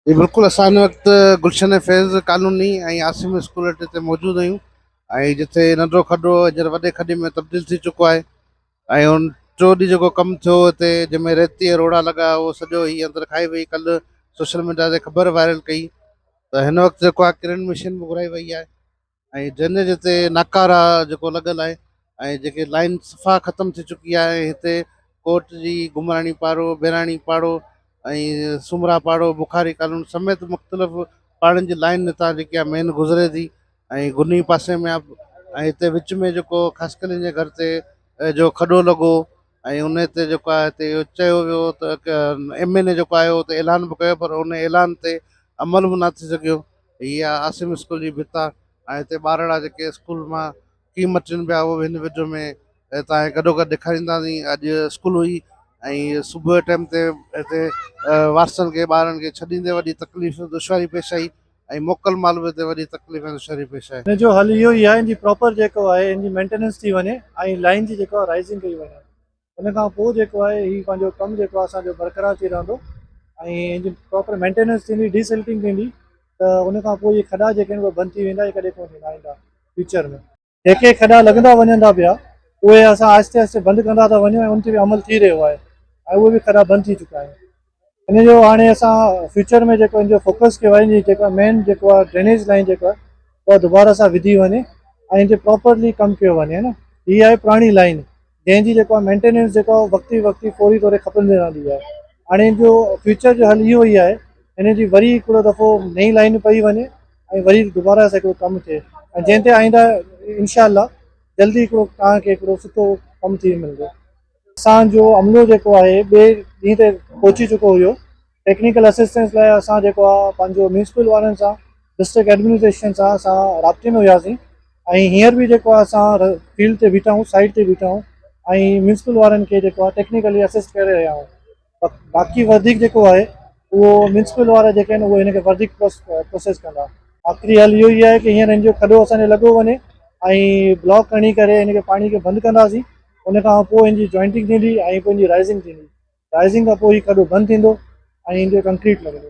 جي بلڪل اسان ان وقت گلشن فيض ڪالوني ۽ عاصم اسڪول اڏي تي موجود آهيون ۽ جتي ننڍو کڏو هينئر وڏي کڏي ۾ تبديل ٿي چڪو آهي ۽ ان ٽيون ڏينهن جيڪو ڪم ٿيو هتي جنهن ۾ ريتي ۽ روڙا لڳا اهو سڄو هي اندر کائي وئي ڪلهه سوشل ميڊيا تي خبر وائرل ڪئي ته هن وقت جيڪو آهي ڪرين مشين به گهرائي وئي آهي ۽ ڊرينيج تي ناڪاره جيڪو لڳل آهي ۽ جيڪي لائين صفا ختم ٿي چڪي آهي هتي ڪوٽ جي گمراڻي پاڙو بهراڻي پاڙو ۽ سومرا پاڙو بخاري ڪالون سميت مختلف پاڙن جي لائين نتان جيڪي آهي مين گذري ٿي ۽ گني پاسي ۾ آهي ۽ هتي وچ ۾ جيڪو خاصڪلين جي گھر تي جو کڏو لڳو ۽ ان تي جيڪو آهي هتي اهو چيو ويو ته ايم اين اي جيڪو آيو هو ته اعلان به ڪيو پر ان اعلان تي عمل به نٿي سگھيو هي آهي عاصم اسڪول جي ڀت ۽ هتي ٻارڙا جيڪي اسڪول مان ڪيئن مٽين پيا اهو به هن وڊيو ۾ توهان کي گڏو گڏ ڏيکارينداسين اڄ اسڪول هئي ۽ صبح جي ٽائيم تي هتي وارثن کي ٻارن کي ڇڏيندي وڏي تڪليف دشواري پيش آئي ۽ موڪل مال به هتي وڏي تڪليف ۽ دشواري پيش آئي. هن جو حل اهو ئي آهي هن جي پراپر جيڪو آهي هن جي مينٽيننس ٿي وڃي ۽ لائين جي جيڪو آهي رائزنگ ڪئي وڃي. ان کان پوء جيڪو آهي هي پنهنجو ڪم جيڪو آهي اسانجو برقرار ٿي رهندو ۽ ان جي پراپر مينٽيننس ٿيندي ڊي سلٽنگ ٿيندي ته ان کان پوء هي کڏا جيڪي آهن بند ٿي ويندا هي ڪڏهن ڪونه ٿيندا آئنده فيوچر ۾ جيڪي کڏا لڳندا وڃن ٿا پيا اهي اسان آهستي آهستي بند ڪندا ٿا وڃون ۽ ان تي به عمل ٿي رهيو آهي ۽ اهي به کڏا بند ٿي چڪا آهن ان جو هاڻي اسان فيوچر ۾ جيڪو ان جو فوڪس ڪيو آهي جي جيڪا مين جيڪو آهي ڊرينيج لائين جيڪو آهي اها دوباره سان وڌي وڃي ۽ ان تي پراپرلي ڪم ڪيو وڃي ها نه هي آهي پراڻي لائين جنهن جي جيڪو آهي مينٽيننس جيڪو آهي وقتي وقتي فوري طور کپندي رهندي آهي هاڻي ان جو فيوچر جو حل اهو ئي آهي ان جي وري هڪڙو دفعو نئي لائن پئي وڃي ۽ وري دوباره سان هڪڙو ڪم ٿئي ۽ جنهن تي آئنده انشاء الله جلدي هڪڙو توهان کي هڪڙو سٺو ڪم ٿي ملندو اسان جو عملو جيڪو آهي ٻئي ڏينهن تي پهچي چڪو هيو، ٽيڪنيڪل اسسٽنس لاء اسان جيڪو آ پنهنجو ميونسپل وارن سان ڊسٽرڪٽ ايڊمنسٽريشن سان اسان رابطي ۾ هياسين ۽ هينئر به جيڪو آ اسان فيلڊ تي بيٺا آهيون سائيٽ تي بيٺا آهيون ۽ ميونسپل وارن کي جيڪو آ ٽيڪنيڪلي اسسٽ ڪري رهيا آهيون. باقي وڌيڪ جيڪو آهي اهو ميونسپل وارا جيڪي آهن اهي هن کي وڌيڪ پروسيس ڪندا آخري حل اهو ئي آهي ته هينئر هن جو کڏو اسان جو لڳو وڃي ۽ بلاڪ کڻي ڪري هن کي پاڻي کي بند ڪنداسين ان کان پوء هن جي جوائنٽنگ ٿيندي ۽ پوء هن جي رائزنگ ٿيندي رائزنگ کان پوء هي کڏو بند ٿيندو ۽ هن جو ڪنڪريٽ لڳندو